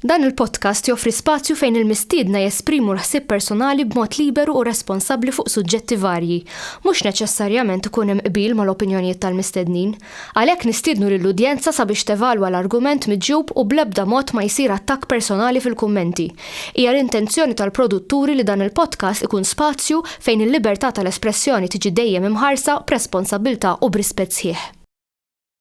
Dan il-podcast joffri spazju fejn il-mistiedna jesprimu l-ħsieb personali b'mod liberu u responsabbli fuq suġġetti varji. Mhux neċessarjament ikun hemm qbil mal-opinjonijiet tal-mistednin. Għalhekk nistiednu lill-udjenza sabiex tevalwa l-argument miġjub u bl-ebda mod ma jsir attakk personali fil-kummenti. Hija l-intenzjoni tal-produtturi li dan il-podcast ikun spazju fejn il-libertà tal-espressjoni tiġi dejjem imħarsa b'responsabbiltà u b'rispett sħiħ.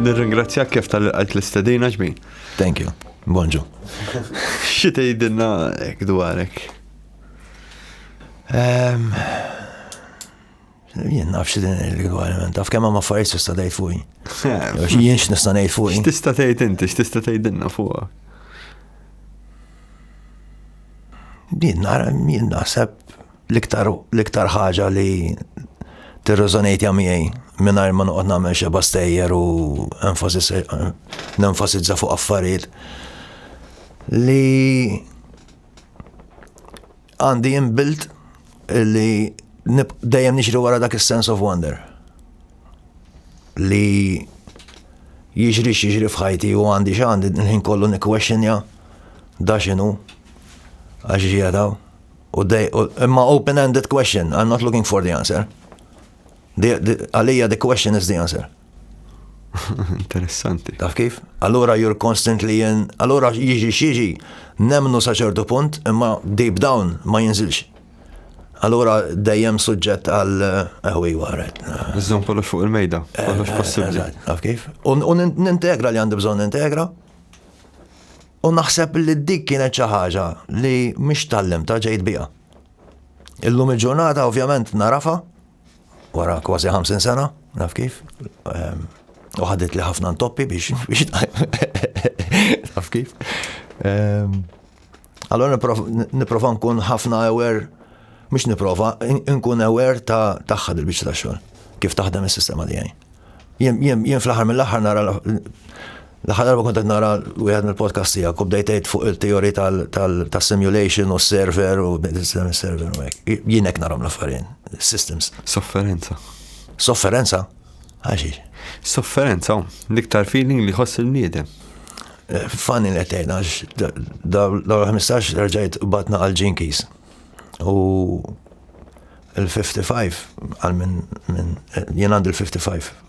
Nirringrazzjak kif tal-qajt l-istedina ġbin. Thank you. Bonġu. Xi tgħidilna hekk dwarek? Ehm, jien naf xi din il-gwariment, taf kemm ma affarijiet tista' tgħid fuqi. Ehm. Jien x'nista' ngħid fuqi. X'tista' tgħid inti, x'tista' tgħidilna fuqha? Din nara jien naħseb L-iktar l-iktar ħaġa li tirreżonejtja miegħi mingħajr ma noqgħod nagħmel xeba stejjer u nenfasizza fuq affarijiet li għandi inbuilt li dejjem nixri wara dak is-sense of wonder li jiġri x'jiġri f'ħajti u għandi x'għandi l-ħin kollu nikkwexxinja da x'inhu għax ġiegħdaw. U dej, imma open-ended question, I'm not looking for the answer. Għalija the question is the answer. Interessanti. Taf kif? Allura you're constantly in, allura jiġi xieġi, nemnu saċertu punt, imma deep down ma jinżilx. Allura dejjem suġġett għal eħwi eh, waret. Iżżom kollox fuq il-mejda, kollox eh, possibli. Taf kif? U nintegra li għandi bżon integra. U naħseb li dik kienet xi ħaġa li mhix tallimta ġejt biha. Illum il-ġurnata ovvjament narafha wara kważi 50 sena, naf kif. Ehm, u ħadet li ħafna ntoppi biex biex naf kif. Ehm, allora niprofa nkun ħafna ewer, mux niprofa, nkun ewer ta' taħħad il biex ta' xogħol, kif taħdem is-sistema tiegħi. Jien fl-aħħar mill-aħħar nara L-aħħar darba kont qed nara wieħed mill-podcasts tiegħek u bdejt tgħid fuq il-teori tas-simulation u s-server u bdejt titkellem is-server u hekk. Jien hekk narhom l-affarin, systems. Sofferenza. Sofferenza? Għaxiex? Sofferenza, l-iktar feeling li ħoss il-bniedem. Eh, Fanni li għetajn, għax daw l-15 rġajt batna għal-ġinkis. U il-55 għal minn jien għandu l-55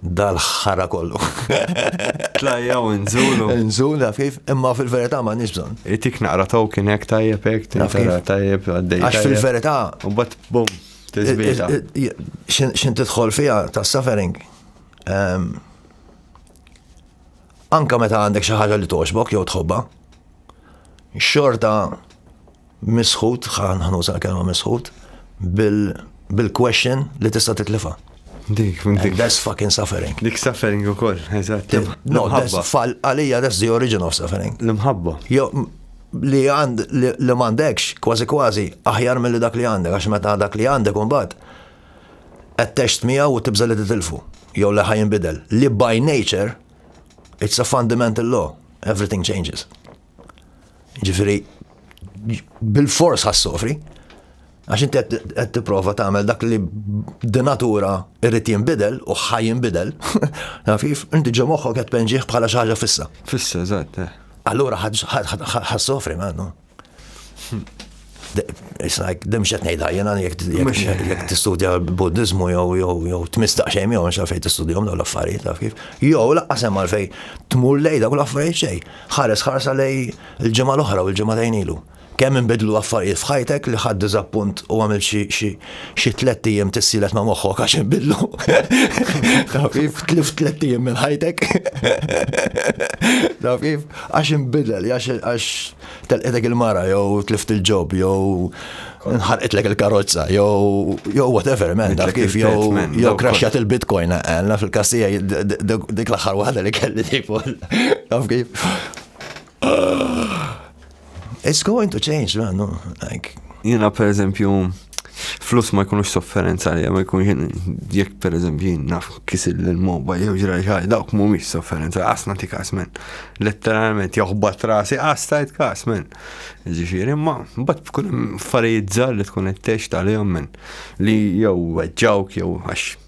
dal-ħara kollu. Tlajja u nżulu. Nżul, naf kif, imma fil-verità ma nix bżon. Itik naqra taw kien hekk tajjeb hekk, tinqra tajjeb għaddej. Għax fil-verità. U bat bum, tiżbita. Xin tidħol fija ta' suffering. Ehm, anka meta għandek xi ħaġa li toġbok jew tħobba, xorta Misħut, ħan ħanuża l-kelma misħut, bil-question li tista' titlifa. Dik, dik. That's fucking suffering. Dik suffering u koll, eżatt. No, fall għalija that's the origin of suffering. L-imħabba. Jo, li għand li m'għandekx, kważi kważi, aħjar mill dak li għandek, għax meta dak li għandek imbagħad qed text miegħu u tibża li titilfu, jew li ħajn bidel. Li by nature, it's a fundamental law, everything changes. Ġifiri, bil-fors ħassofri, għax inti qed tipprova tagħmel dak li d-natura irrid jinbidel u ħaj jinbidel, nafif, inti ġo moħħok qed penġieħ bħala xi ħaġa fissa. Fissa, eżatt. Eh. Allura ħassofri ma għandu. Dem xet nejda, jena jek t-studja buddizmu jow jow jow t-mistaq xejn jow nxaf fej t-studjom daw l-affarijiet taf kif. Jow laqqa semma fej tmur lejda kull affarijiet xej. Ħares ħarsa lej il-ġimgħa l-oħra u l-ġimgħa tajn ilu. Kemm inbidlu affarijiet f'ħajtek li ħadd diżappunt u għamil xi tlet ijiem tissilet ma' moħħok għax inbidlu. Taf kif tlif tlet ijiem minn ħajtek. Taf kif għax inbidel, għax telqetek il-mara, jew tlift il-ġob, jew nħarqitlek il-karozza, jew jew whatever, man, daf kif, jew jew crashat il-bitcoin, għalna eh, eh, fil-kassija dik l-aħħar waħda li kelli tipo, daf kif. It's going to change, man, no, like. Jina, per eżempju, Flus ma jkunux sofferenza li ma jkun jien jekk per eżempju jien naf kisil l-moba jew ġra ġaj dawk mhumiex sofferenza qas nagħti kas men. Letteralment joħbat rasi qas tajt kas men. Ġifieri imma mbagħad tkun affarijiet żgħar li tkun qed tgħix tal-jom men li jew weġġawk jew għax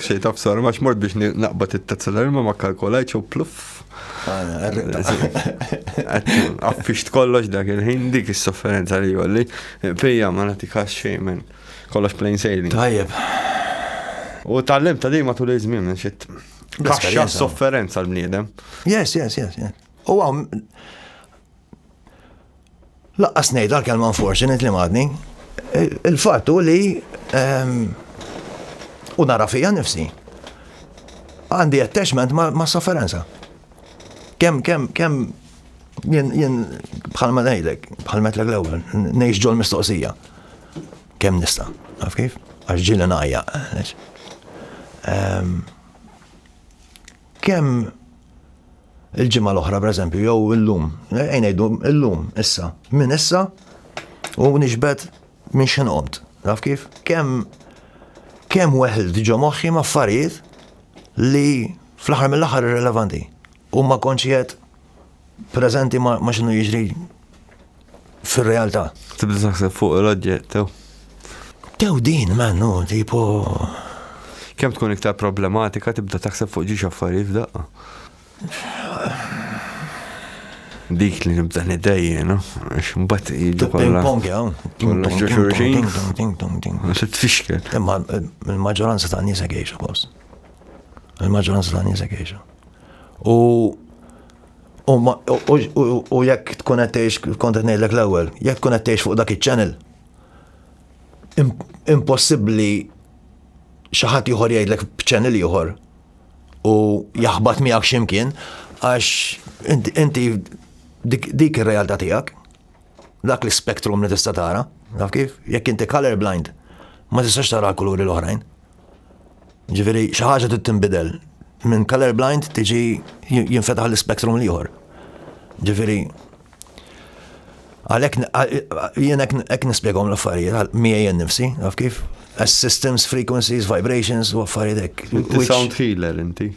Xej taf sar, max mort biex naqbat it-tazza l-ilma ma kalkolajċ u pluff. Għaffix kollox dak il-ħin dik is-sofferenza li jolli. Pija ma natikax xej minn kollox plain sailing. Tajjeb. U tal-lim ta' dejma tul iż-żmien minn xit. Kaxxa sofferenza l-bniedem. Yes, yes, yes. U għam Laqqas ngħid għall-kelma unfortunate li madni. Il-fatt hu li ehm, u nara fija nifsi. Għandi attachment ma' sofferenza. Kem, kem, kem, jien, jien, bħal ma nejdek, bħal metlek l-ewel, nejx ġol mistoqsija. Kem nista, għaf kif? Għax ġili najja. Ehm, kem, il-ġimgħa l-oħra pereżempju jew illum, ejn ngħidu illum issa, minn issa u nixbet minn x'in qomt. Naf kif? Kemm kemm weħd ġo moħħi ma' affarijiet li fl-aħħar mill-aħħar irrelevanti u ma konċiet preżenti ma' x'inhu jiġri fil-realtà. Tibda taħseb fuq l-oġġett, tew. Tew din, mannu, tipo. Kem tkun iktar problematika tibda taħseb fuq ġiġ affarijiet f'daqqa. Dik li nibda nidejje, no? X'mbagħad jiġu kollha. Pong hawn. Kollha xulxin. Se tfixkel. Imma il-maġġoranza ta' nies għejxa kos. Il-maġġoranza ta' nies għejxa. U U jekk tkun qed tgħix kont qed ngħidlek l-ewwel, jekk tkun qed tgħix fuq dak iċ-channel, impossibbli xi ħadd ieħor jgħidlek b'channel ieħor u jaħbat miegħek x'imkien għax inti dik ir-realtà tiegħek. Dak l-spektrum li tista' tara, naf kif? Jekk inti color blind, ma tistax tara l-kuluri l-oħrajn. Ġifieri xi ħaġa trid tinbidel. Minn color blind tiġi jinfetaħ l-spektrum l-ieħor. Ġifieri għalhekk jien hekk nispjegahom l-affarijiet miegħi nifsi, naf kif? As systems, frequencies, vibrations u affarijiet hekk. Inti sound healer inti.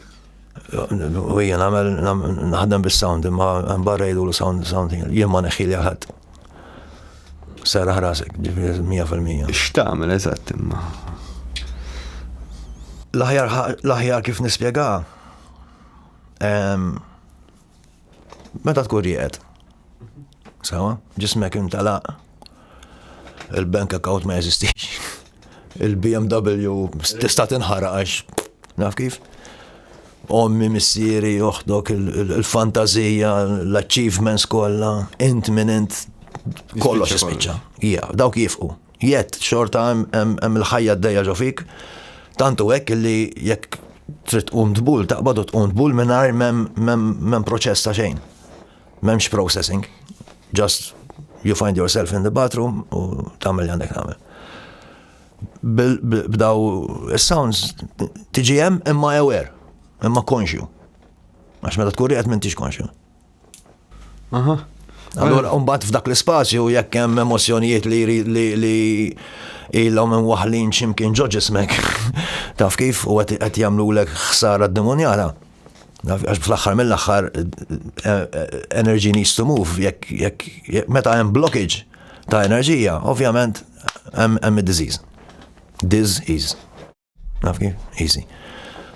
U jien għamel naħdem bis-sound, imma barra jgħidu l-sound, sound, jien ma neħħi li ħadd. Serraħ rasek, ġifiri 100%. X'tagħmel eżatt imma? L-aħjar kif nispjega, Meta tkun rieqed. Sawa, ġismek intalaq. Il-bank account ma jeżistix. Il-BMW tista' tinħaraq għax naf kif. Ommi, missieri, joħdok il-fantazija, l-achievements kollha, int minn int kollox jispiċċa. Ija, dawk jifqu. Yet, xorta hemm il-ħajja d-dejja ġo fik, tant u hekk li jekk trid tqum tbul, taqbad u tqum tbul mingħajr m'hemm proċess ta' xejn. M'hemmx processing. Just you find yourself in the bathroom u tagħmel li għandek tagħmel. B'daw is-sounds tiġi hemm imma aware, imma konxju. Għax meta tkun rieqed m'intix konxju. Aha. Allora, mbagħad f'dak l-ispazju jekk hemm emozjonijiet li li ilhom minn waħlin x'imkien ġo ġismek. Taf kif u qed jagħmlulek ħsara d-demonjala. Għax fl-aħħar mill-aħħar eh, eh, energy needs to move. Jekk meta hemm blockage ta' enerġija, ovvjament hemm id-disease. Disease. Naf kif? Easy.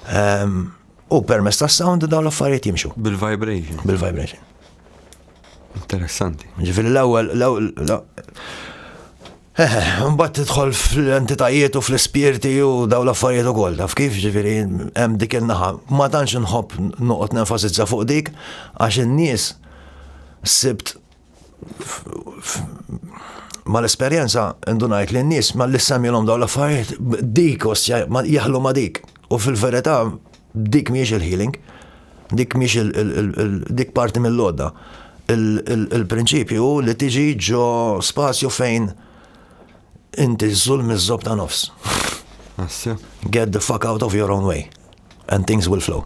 Ehm, u permess ta' sound dawn l-affarijiet jimxu. Bil-vibration. Bil-vibration. Interessanti. Ġifiri l-ewwel, Mbatt tidħol fl-entitajiet u fl-ispirti u daw l-affarijiet u koll, taf kif ġifiri hemm dik il-naħa. Ma tantx nħobb noqgħod nenfasizza fuq dik għax in-nies sibt ma l-esperjenza ndunajt li n-nies ma li semjilhom dawn l-affarijiet dik osja jaħlu ma dik. U fil-verità dik miex il-healing, dik miex dik parti mill-lodda. Il-prinċipju hu li tiġi ġo spazju fejn inti żul miż-żob ta' nofs. Get the fuck out of your own way. And things will flow.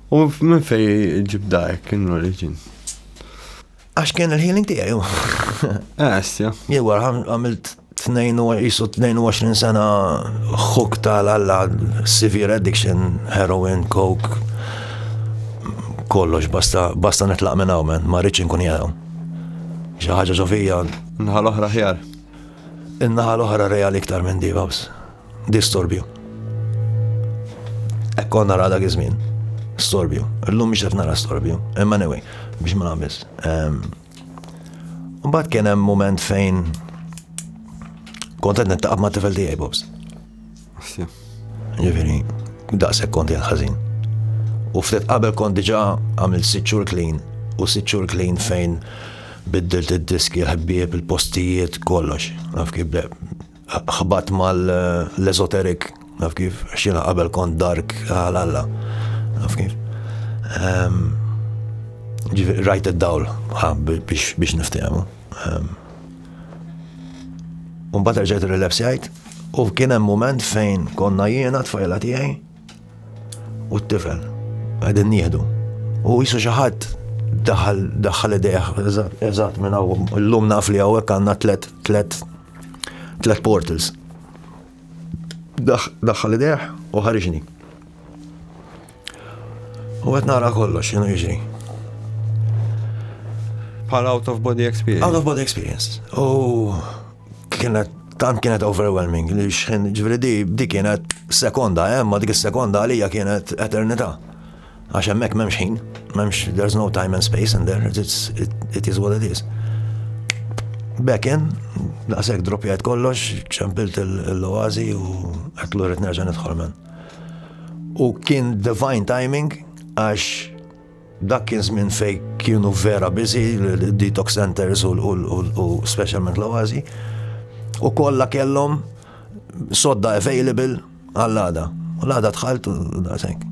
U minn fej ġib dajk in origin? Għax kien il-healing tijaj, ju. Għasja. Ah, Jew għamilt 22 sena xuk tal-alla severe addiction, heroin, coke, kollox, basta, basta netlaq minn hawn, ma rridx inkun jgħu. Xi ħaġa ġovija. Naħa l-oħra ħjar. In-naħa l-oħra reali iktar minn di, babs. Distorbju. Ekkon nara dak iż-żmien. Storbju. Illum biex qed nara storbju. Imma anyway, biex ma nagħmilx. Ehm, mbagħad kien hemm moment fejn kont qed nittaqab ma' tifel tiegħi Bobs. Ġifieri, daqshekk kont jgħal ħażin. U ftit qabel kont diġà għamil sitt xhur clean u sitt xhur clean fejn biddilt id-diski, l-ħbieb, il-postijiet, kollox. Naf kif Ħbatt mal-esoteric, naf kif, xina qabel kont dark għal-alla, naf kif. Ehm, rajt id-dawl biex niftijamu. Ehm, un bat rġajt il-relapsijajt, u kien hemm moment fejn konna jiena tfajla tiegħi u t-tifel għedin nieħdu. U jisu xaħat daħal daħal idejħ, eżat minn għaw, l-lum naf li għawek għanna tlet, tlet Tlet portals. Daħħal ideħ u ħariġni. U għet nara kollox, xinu jiġri. Bħal out of body experience. Out of body experience. U kienet tant kienet overwhelming li xħin ġveri di di kienet sekonda, eh, ma dik sekonda għalija kienet eternita. Għax hemmhekk m'hemmx ħin, m'hemmx there's no time and space in there, it's, it, it is what it is. Back in, daqshekk droppjajt kollox, ċempilt l-oazi u qed lura nerġa' nidħol men. U kien divine timing għax dak kien żmien fej kienu vera busy l-detox centers u specialment l-oazi u kollha kellhom sodda available Għall-għada. U l-għada tħalt u daqshekk.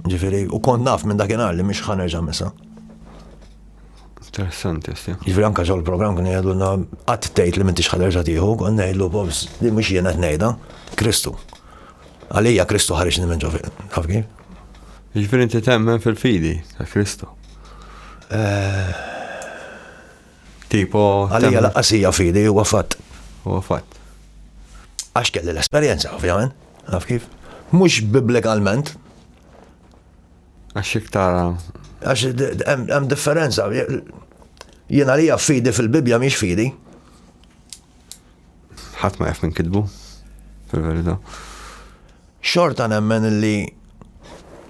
Ġifieri, u kont naf minn dakinhar li mhix ħanerġa' misa. Interessanti, jesti. Ġifri anka ġol program kien jgħidulna għat tgħid li m'intix ħaderġa tiħu, kon ngħidlu bobs li mhux jiena tnejda, Kristu. Għalija Kristu ħarġ minn ġo taf kif? Ġifri inti temmen fil-fidi ta' Kristu. Eh, Tipo. Għalija laqqas hija fidi, huwa fatt. Huwa fatt. Għax kelli l-esperjenza, ovvjament. Għaf kif? Mhux bibblikalment. Għax iktar. Għax hemm differenza. Jien għalija fidi fil-Bibja mhix fidi. ħadd ma jaf minn kitbu, fil-verità. Xorta nemmen li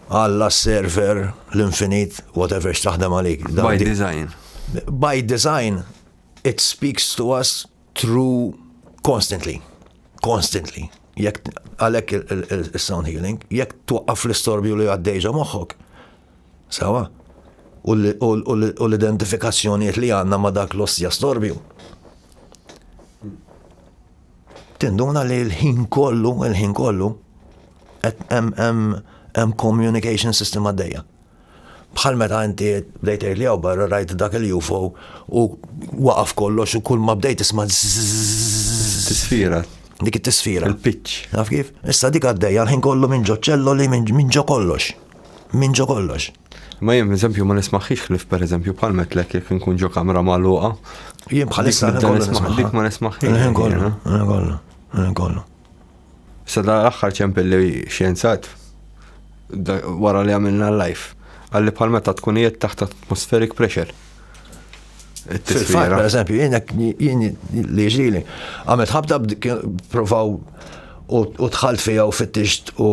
għalla server l-infinit, whatever xtaħdem għalik. By design. By design, it speaks to us through constantly. Constantly. Jek għalek il-sound healing, jek tuqqaf l-istorbju li għaddejġa moħħok, Sewwa? U l-identifikazzjonijiet li għandna ma' dak l-ostja storbju. Tinduna li l-ħin kollu, l-ħin kollu, hemm communication system għaddejja. Bħal meta inti bdejt li għaw barra rajt dak il-UFO u waqaf kollox u kull ma bdejt isma' tisfira. Dik it-tisfira. Il-pitch. Naf kif? Issa dik għaddejja l-ħin kollu minn ġo ċelloli minn ġo kollox. minn ġo kollox. Ma jem, eżempju, ma nismaħħix ħlif per eżempju bħal metlek jek nkun ġo kamra maluqa. Jem bħal issa dik ma nismaħħix. Jem kollu, jem kollu, jem kollu. Sa da l-axħar ċempel li xienzat wara li għamilna l-life. Għalli bħal meta tkun jiet taħt atmospheric pressure. Fil-fat, per eżempju, jienek li ġili, għamet ħabta provaw u tħalt fija u fittixt u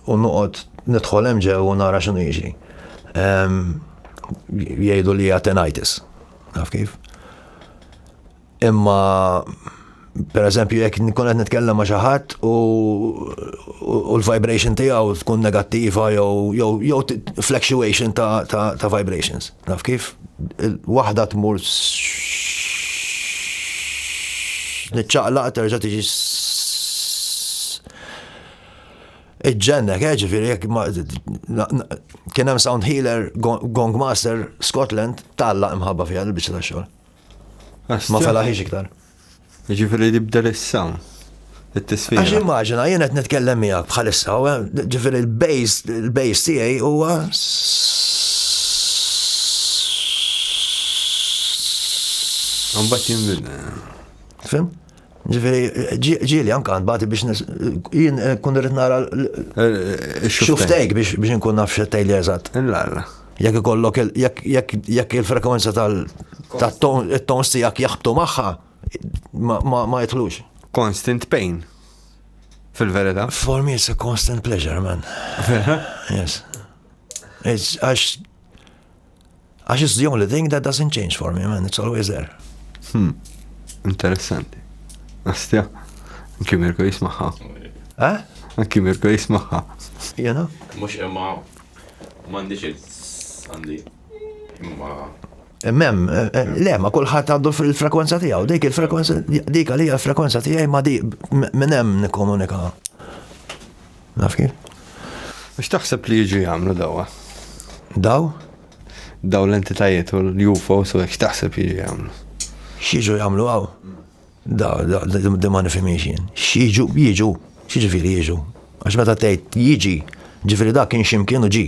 nuqot nidħol emġe u nara xinu jiġri. Jgħidu li għatenitis. Naf kif? Imma per eżempju jekk nkun qed nitkellem ma' xi ħadd u l-vibration tiegħu tkun negattiva jew fluctuation ta' vibrations. Naf kif? Waħda tmur niċċaqlaq terġa' tiġi iġġennek, eh, ġifieri jekk kien hemm sound healer, gong master, Scotland, talla imħabba fiha l-biċċa ta' xogħol. Ma felaħiex iktar. Ġifiri li bdel issa. It-tisfira. Għax immaġina, jien qed nitkellem miegħek bħalissa, ġifiri l-base, l-base tiegħi huwa Għambat jimmin. Fim? Ġifieri ġieli anke għand bagħti biex jien kun irrid nara xuftejk biex inkun naf x'qed tgħidli eżatt. Jekk ikollok jekk il-frekwenza tal-tons tiegħek jaħbtu magħha ma jidħlux. Constant pain. Fil-verità. For me it's a constant pleasure, man. Yes. Għax Għax it's the only thing that doesn't change for me, man, it's always there. Hmm, interessanti. Astja, anki Mirko jismaħħa. Eh? Anki Mirko jismaħħa. Jena? Mux imma mandiċ għandi. Imma. Mem, eh, eh, le, ma kullħat għandu il-frekwenza tijaw, dik il-frekwenza, dik għalija il-frekwenza tijaj ma di minnem nikomunika. Naf kif? X'taħseb li jiġu jagħmlu dawha? Daw? Daw l-entitajiet u l-UFOs u x'taħseb jiġu jagħmlu? X'jiġu jagħmlu hawn? Da, da, da ma nifhimiex jien. X'jiġu, jiġu, x'jiġifieri jiġu. Għax meta tgħid jiġi, ġifieri dak kien x'imkien u ġi.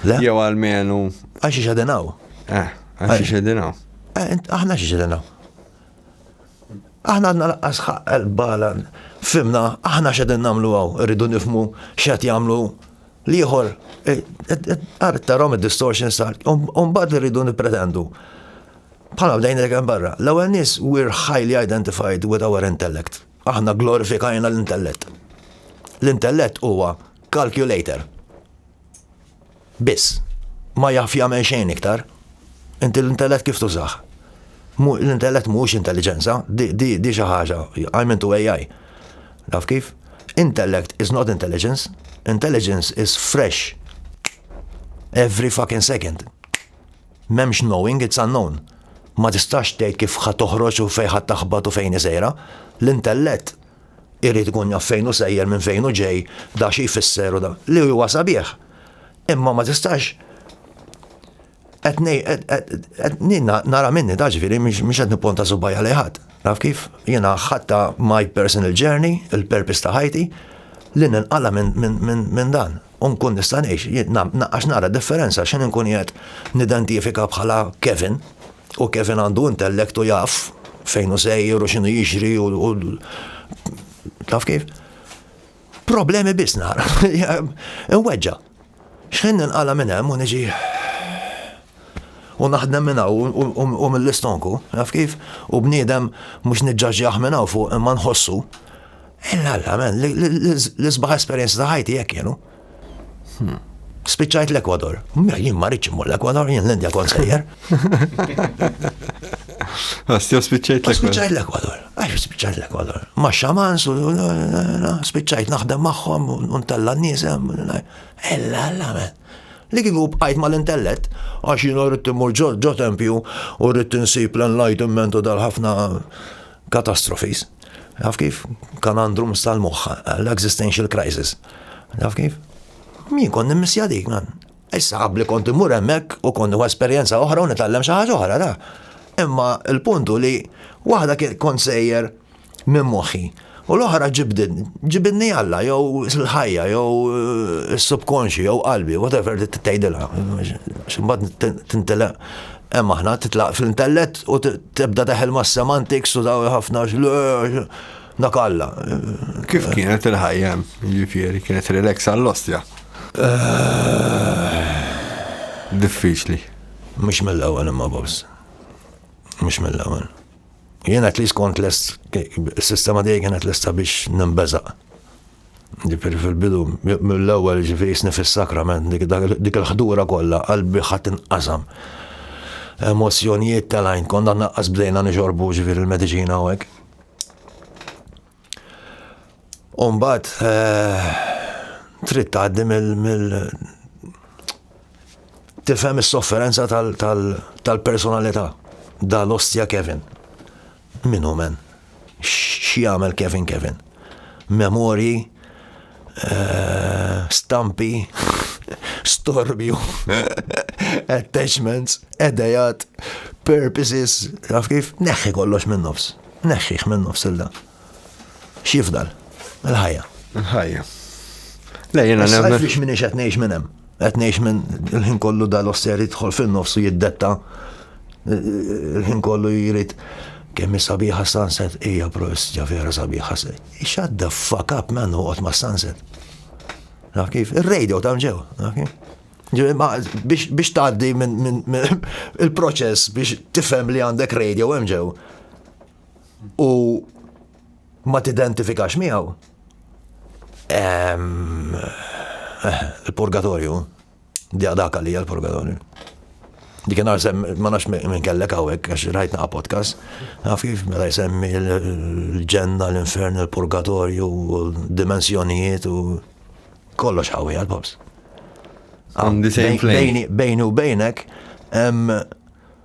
Le? Jew għalmenu. Għax ixedinaw. Eh, għax ixedinaw. Eh, aħna x'ixedinaw. Aħna għandna laqqas ħaqqel balan fimna aħna x'edin nagħmlu għaw, irridu nifmu x'qed jagħmlu l-ieħor. Għarret tarom id-distortion start, mbagħad irridu nippretendu. Bħala bdejn dak barra, l-ewwel nies we're highly identified with our intellect. Aħna glorifikajna l-intellett. L-intellett huwa calculator. Biss. Ma jaf jagħmel xejn iktar. Inti l-intellett kif tużah? L-intellett mhuwiex intelliġenza, di xi ħaġa, I'm into AI. Taf kif? Intellect is not intelligence. Intelligence is fresh. Every fucking second. M'hemmx knowing, it's unknown. Ma tistax tgħid kif ħa toħroġ u fejn ħa taħbat u fejn hi sejra. L-intellett irid ikun jaf fejn hu sejjer minn fejn hu ġej, da xi jfisser u da. Li huwa sabiħ. Imma ma tistax qed nara minni ta' ġifieri mhux qed nipponta subajja li ħadd. Naf kif? Jiena ħadta my personal journey, il-purpose ta' ħajti, li ninqala minn dan. U nkun nista' ngħix, għax nara differenza x'inhi nkun qiegħed nidentifika bħala Kevin, u Kevin għandu intellect u jaf fejn hu sejjer u x'inhu jixri u taf kif? Problemi biss nara. Inweġġa. Xħin ninqala minn hemm u niġi u naħdem minna u mill-istonku, naf kif, u bniedem mux nġaġġaħ minna u fuq imma nħossu. Illa, illa, men, l-isbaħ esperienza ta' ħajti jek jenu. Spiċċajt l-Ekwador. Mela, jien ma rridx immur l-Ekwador, jien l-Indja kont sejjer. Għastja ah, spiċċajt l-Ekwador. Spiċċajt l-Ekwador. Għax spiċċajt l-Ekwador. Ma xaman, spiċċajt naħdem maħħom, untella n-nisem. Ella, ella, men. Li kiku bqajt ma l-intellet, għax jien rrid immur ġo tempju u rrid insib l-enlightenment u dal-ħafna catastrophes. Taf kif? Kanandrum tal-moħħ, l-existential crisis. Taf kif? Min kont nimmissja dik, man. Issa qabli kont immur hemmhekk u kont esperjenza oħra u nitgħallem xi ħaġa oħra, da. Imma l-puntu li waħda kont sejjer minn moħħi. U l-oħra ġibdin, ġibinni Alla, jew l-ħajja, jew eh, s-subkonxi, jew qalbi, whatever t-tejdila. Ximbat t-intela Hemm aħna titlaq fl-intellett u tibda teħel ma' semantics u daw ħafna dak alla. Kif kienet il-ħajja ġifieri kienet relax għall-ostja? Eh. Diffiċli. Mhux mill-ewwel imma boss. Mhux mill-ewwel. Jien qed li skont l-sistema dejjem kienet lesta biex nimbeżaq. Ġifiri fil-bidu, mill-ewwel ġifiri jisni fis-sakrament, dik il-ħdura kollha qalbi ħadd inqasam. Emozjonijiet tal-għajn konna naqqas bdejna nixorbu ġifiri l-mediċina u hekk. Umbat, eh, trid tgħaddi mill tifhem is-sofferenza tal-personalità dal-ostja Kevin. Min hu men? X'jagħmel Kevin Kevin? Memorji, stampi, storbju, attachments, edejat, purposes, taf kif? Neħħi kollox minn nofs. Neħħih minn nofs il dan. X'jifdal? Il-ħajja. Il-ħajja. Le jiena nemmen. Għaliex minix qed ngħix minn hemm. Qed ngħix minn il-ħin kollu dal-oster jidħol fin-nofs u jiddetta il-ħin kollu jrid kemm sabiħa sunset hija prost ġa vera sabiħa. Shut the fuck up man uqgħod ma' sunset. Naf kif? Ir-radio ta' mġew, naf kif? biex tgħaddi minn il-proċess biex tifhem li għandek radio hemm ġew. u ma tidentifikax miegħu, ehm, eh, il-purgatorju, di dak għalija l-purgatorju. Di kien għarsem, ma nafx minn kellek għawek, għax rajt naqa podcast, għaf kif mela jsemmi l-ġenna, l-infern, il-purgatorju, dimensjonijiet u kollox għawi għal-pops. Bejni u bejnek,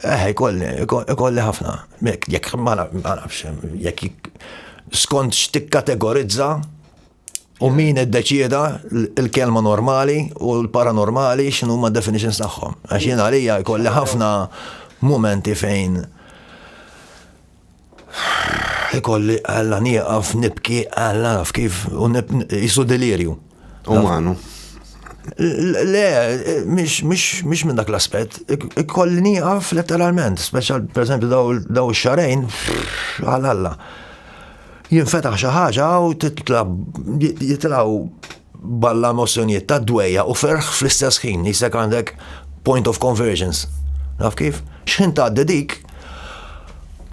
Eh, ikolli, ikolli ħafna. Jekk ma nafx, jekk skont x'tikkategorizza u min iddeċieda il-kelma normali u l-paranormali x'inhu ma definitions tagħhom. Għax jien għalija jkolli ħafna momenti fejn Ikolli għalla nieqaf nibki għalla naf kif u jisu delirju. U manu. Le, mish minn dak l-aspet, ikolli nieqaf letteralment, speċjal per esempio daw xarajn, għal-alla. Jinfetaħ xaħġa u titla jitlaw balla emozzjonijiet ta' dwejja u ferħ fl-istess ħin, jisek għandek point of convergence. Naf kif? Xħin ta' dik,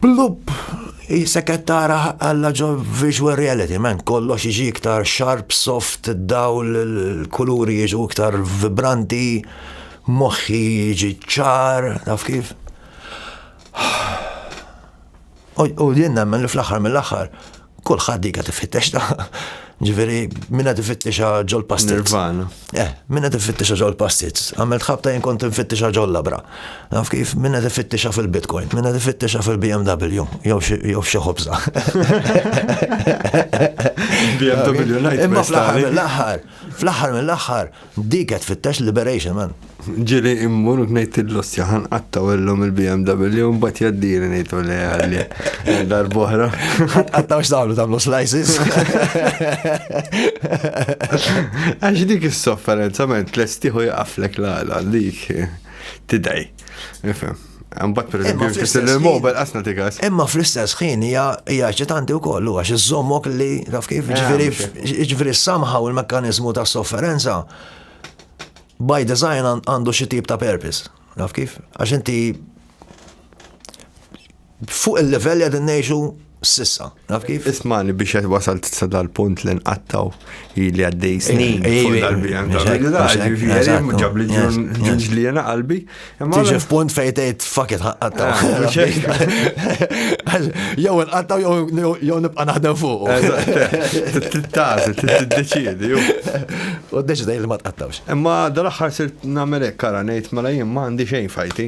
plup, jisek qed tara għalla ġo visual reality, man, kollox iġi iktar sharp, soft, dawl, kuluri jiġu iktar vibranti, moħħi jiġi ċar, naf kif? U jien nemmen li fl-aħħar mill-aħħar kulħadd dika tifittex ta' ġifieri minna tifittexa ġol pastit. Nirvana. Eh, minna tifittexa ġol pastit. Għamel tħabta jien kont tifittexa ġol labra. Naf kif minna tifittexa fil-Bitcoin, minna tifittexa fil-BMW, jew xi ħobża. BMW ngħid. Imma fl-aħħar mill-aħħar, fl-aħħar mill-aħħar, Dik qed tfittex liberation man. Ġili immur u ngħid il-lossja ħan qatta wellhom il-BMW mbagħad jaddini ngħidu li għalli darbohra. Qattaw x'tagħmlu tagħmlu slices. Għax dik is-sofferenza ment lestiħu jaqaflek l-għala dik tidej. Ifhem. Mbatt per eżempju, fl-istess il-mobile qasna tikas. Imma fl-istess ħin hija hija ċitanti wkoll huwa xi żommok li taf kif eh, ġifieri ġifieri somehow il-mekkaniżmu ta' sofferenza by design għandu xi tip ta' purpose. Taf kif? Għax inti fuq il-level qed ngħixu Sissa, naf kif? Ismani biex qed wasalt sa dal-punt li nqattaw li għaddej snin. Ġab li ġunġli jena qalbi. Tiġi f'punt fejn tgħid faket ħaqqattaw. Jew nqattaw jew nibqa' naħdem fuq. Tittażi, tiddeċiedi. U ddeċidej li ma tqattawx. Imma dal-aħħar sirt nagħmel hekk ara ngħid mela jien ma għandi xejn fajti.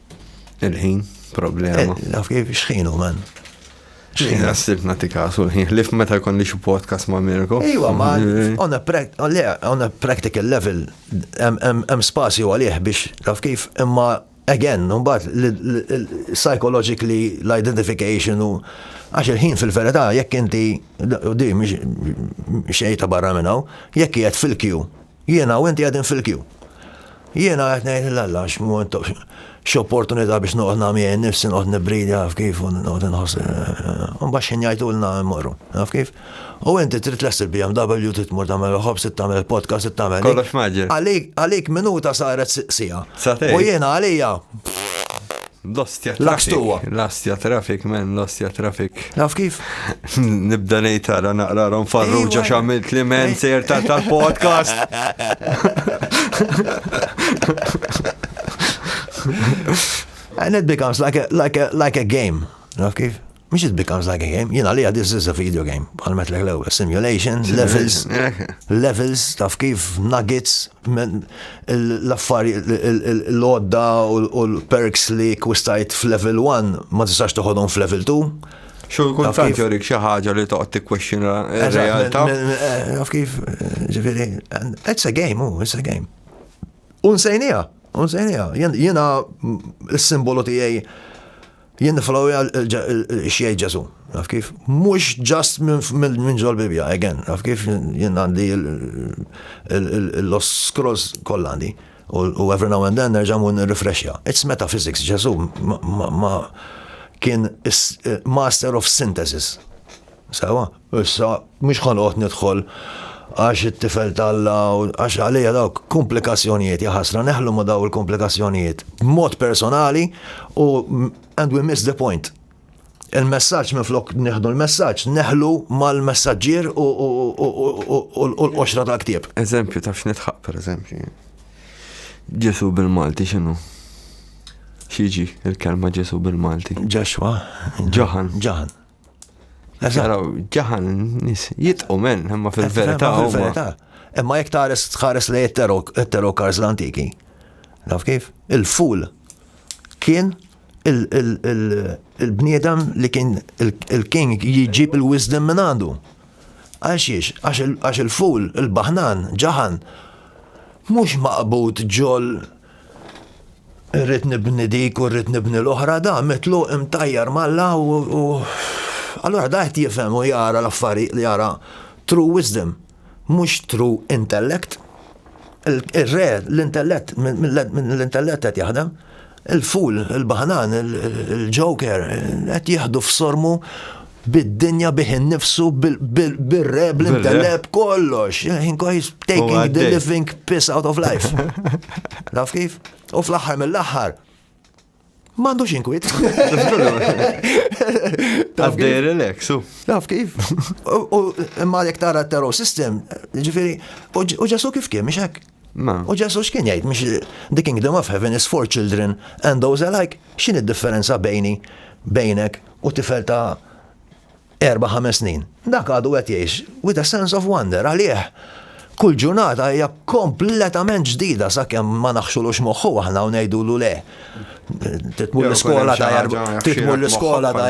Il-ħin, problema. Eh, naf kif xħinu, man. Xħin għassib nati kasu l-ħin, lif meta kondi xie podcast ma' Mirko. Iwa, ma' on a practical level, hemm spazju għalih biex, naf kif, imma again, numbat, psychologically, l-identification u għax il-ħin fil-verità, jekk inti, u di, xejta barra minnaw, jekk jgħet fil-kju, Jiena u inti qegħdin fil-kju. Jiena qed ngħid lil Alla għax x'opportunità biex noqgħod nagħmija nnifsi noqgħod nibridi għaf kif u noqgħod inħoss. Imbagħad x'ħin jgħidulna mmorru, għaf kif? U inti trid lest il-BMW trid tmur tagħmel ħobs, tagħmel il-podcast, tagħmel. Kollox maġġel. Għalik minuta saret sija. U jiena għalija L-ostja traffic. L-ostja traffic, men, l-ostja traffic. Naf kif? Nibda nejtara naqrarom farruġa xamilt li men sejr tal-podcast. And it becomes like a, like a, like a game. Naf kif? Mhix it becomes like a game, jien għalija this is a video game, bħal metlek l-ewwel, simulation, levels, levels, taf kif, nuggets, l-affari, l-odda u l-perks li kwistajt f'level 1 ma tistax toħodhom f'level 2. Xo kun tant jorik xi ħaġa li toqgħod tikkwestjona r-realtà. Eh, taf kif, ġifieri, it's a game, oh, it's a game. Unsejnija, unsejnija, jiena s-simbolu tiegħi Jien niflowja x'jgħid Ġesu, naf kif? Mhux ġast minn ġol Bibja, again, naf kif jien għandi l-os scrolls kollha għandi. U every now and then nerġa' mur nirrifreshja. It's metaphysics, Ġesu ma kien master of synthesis. Sewwa, issa mhux ħa noqgħod nidħol għax it-tifel t'Alla u għax għalija dawk kumplikazzjonijiet, jaħasra neħlu ma' daw il-kumplikazzjonijiet b'mod personali u and we miss the point. Il-messaġġ minflok nieħdu l-messaġġ neħlu mal-messaġġier u l-qoxra tal-ktieb. Eżempju taf x'nidħaq pereżempju. Ġesu bil-Malti x'inhu? X'jiġi il-kelma Ġesu bil-Malti? Ġexwa. Ġaħan. Ġaħan. Għaraw, ġahan, nis, jitqu men, imma fil-verita. Fil-verita. Imma jek tares tħares li jettero kars l-antiki. Naf kif? Il-ful kien il-bniedem li kien il-king jġib il-wisdom minn għandu. Għaxiex, għax il-ful, il-bahnan, ġahan, mux maqbut ġol Irrid nibni dik u rrid nibni l-oħra, da mitlu imtajjar malla u allura da qed jifhem u jara l-affarijiet li jara true wisdom, mhux true intellect. Ir-re l-intellett minn l-intellett qed jaħdem. Il-ful, il-baħnan, il-joker qed jieħdu f'sormu bid-dinja bih innifsu, bil-re, bl-inteleb, kollox. He's taking the living piss out of life. Naf kif? U fl-axħar mill-axħar, Mandu xinkwit. Taf dej relax, u. Taf kif? U imma jek tara terror system, ġifiri, u ġasu kif kien, miexek? U Ġesù x'kien jgħid mhux the kingdom of heaven is for children and those alike, x'inhi d-differenza bejni, bejnek u tifel ta' erba' ħames snin. Dak għadu qed jgħix with a sense of wonder għalih kull ġurnata hija kompletament ġdida sakemm ma naħxulux moħħu aħna u ngħidulu le. Titmur l-iskola ta' titmur l-iskola ta'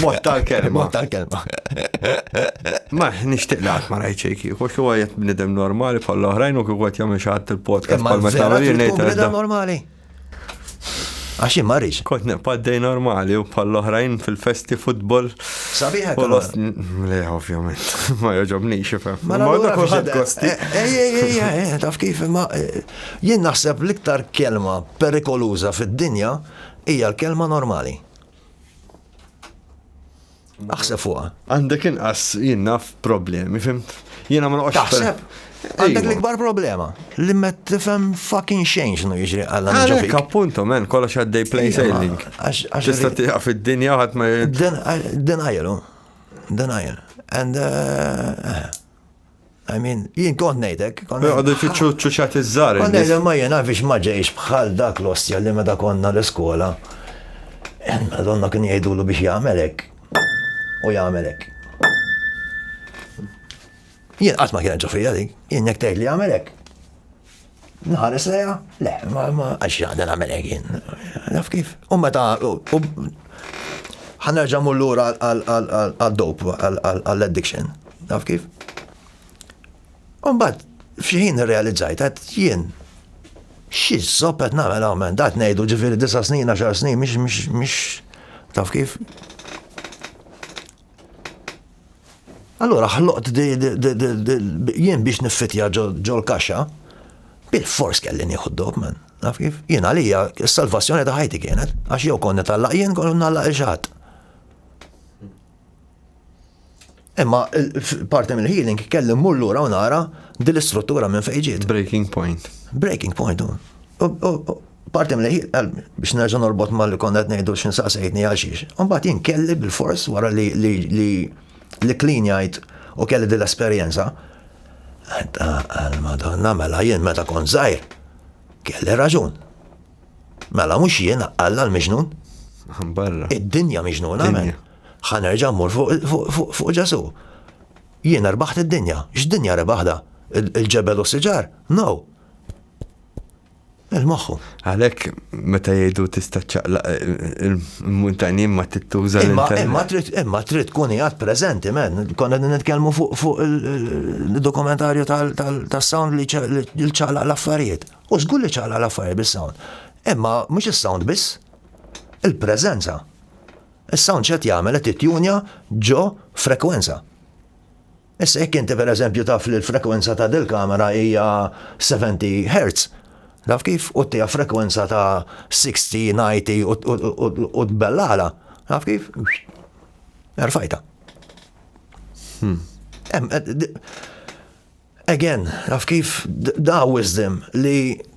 Mod tal-kelma. Mod tal-kelma. Ma nixtieq li qatt ma rajt xejn kieku, xi huwa qed bnidem normali bħal oħrajn u kieku qed jagħmel xi ħadd il-podcast bħal meta nagħmel ngħid. normali. Għax ma rix. Kont neqpaddej normali u bħal oħrajn fil-festi futbol. Sabiħa. Le, ovvjament. Ma joġobni xifem. Ma da kullħad kosti. Ej, ej, ej, ej, taf kif ma. Eh, jien naħseb l-iktar kelma perikoluża fid-dinja hija l-kelma normali. Aħseb fuqha. Għandek inqas jien naf problemi, fimt? Jiena ma noqgħodx. Taħseb? Għandek l-ikbar problema. Li ma tifhem fucking xejn x'nu jiġri għal Għalek appunto men kollox għaddej plain sailing. Tista' tieqa fid-dinja ħadd ma. Denial. Denial. And uh, I mean, jien kont nejdek. Għadu jfittxu ċuċat iż-żar. Kont nejdek ma jena biex ma ġejx bħal dak l-ostja li meta konna l-iskola. Donna kien jgħidulu biex jagħmelek. U jagħmelek. Jien qatt ma kien ġofija dik, jien jekk tgħid li jagħmelek. Nħares leja, le, ma ma għax għadha nagħmel jien. Naf kif. U meta ħanerġa' mur lura għal-dop, għall-addiction. Naf kif. Umbagħad f'xi realizzajt għad jien xi żoppet nagħmel hawn dat ngħidu ġifieri disa' snin, għaxar snin, mhix taf kif. Allura ħloqt jien biex niffitja ġol kaxxa bil fors kelli nieħu d-dog man. Naf kif? Jien għalija s-salvazzjoni ta' ħajti kienet, għax jew konna tallaq jien konna nallaq il-xatt. Imma parti mill healing kelli mmur lura u nara dil-istruttura minn fejn ġiet. Breaking point. Breaking point. Parti mlejħiet qalbi, biex nerġa' norbot ma' li konna qed ngħidu għax inti saqsejtni għal xiex. Imbagħad jien kelli bilfors wara li klinjajt u kelli din l-esperjenza, għal Madonna mela jien meta kont żgħir kelli raġun. Mela mhux jien Alla l-miġnun. Barra. Id-dinja miġnuna men. Ħanerġa' mmur fuq Ġesu. Jien erbaħt id-dinja. X'dinja rebaħda? Il-ġebel u s-siġar? No. Merħ magħhom. Għalhekk meta jgħidu tista' ċċaqlaq il-muntanji ma tittuża l-internet. Imma trid imma trid tkun qiegħed preżenti men, konna nitkellmu fuq il-dokumentarju tas-sound li ċċaqlaq l-affarijiet. U żgur li ċċaqlaq l-affarijiet bis-sound. Imma mhux is-sound biss, il-preżenza. Is-sound x'qed jagħmel qed ittjunja ġo frekwenza. Issa jekk inti pereżempju taf li l-frekwenza ta' dil-kamera hija 70 Hz, taf kif, u ttiha frekwenza ta' 60, 90 u tbellagħla, taf kif, erfajtha. Hmm. Again, taf kif, da wisdom li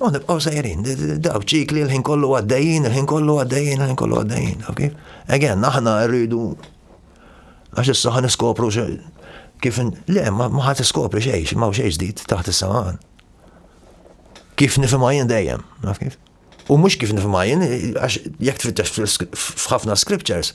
U nibqgħu sejrin, daw ċikli l-ħin kollu għaddejjin, l-ħin kollu għaddejjin, l-ħin kollu għaddejjin, ok? Again, aħna rridu għax issa ħan iskopru kif le ma ħadd iskopri xejn, ma xejn ġdid taħt is-saman. Kif nifhimha jien dejjem, naf kif? U mhux kif nifhimha jien għax jekk tfittex f'ħafna scriptures,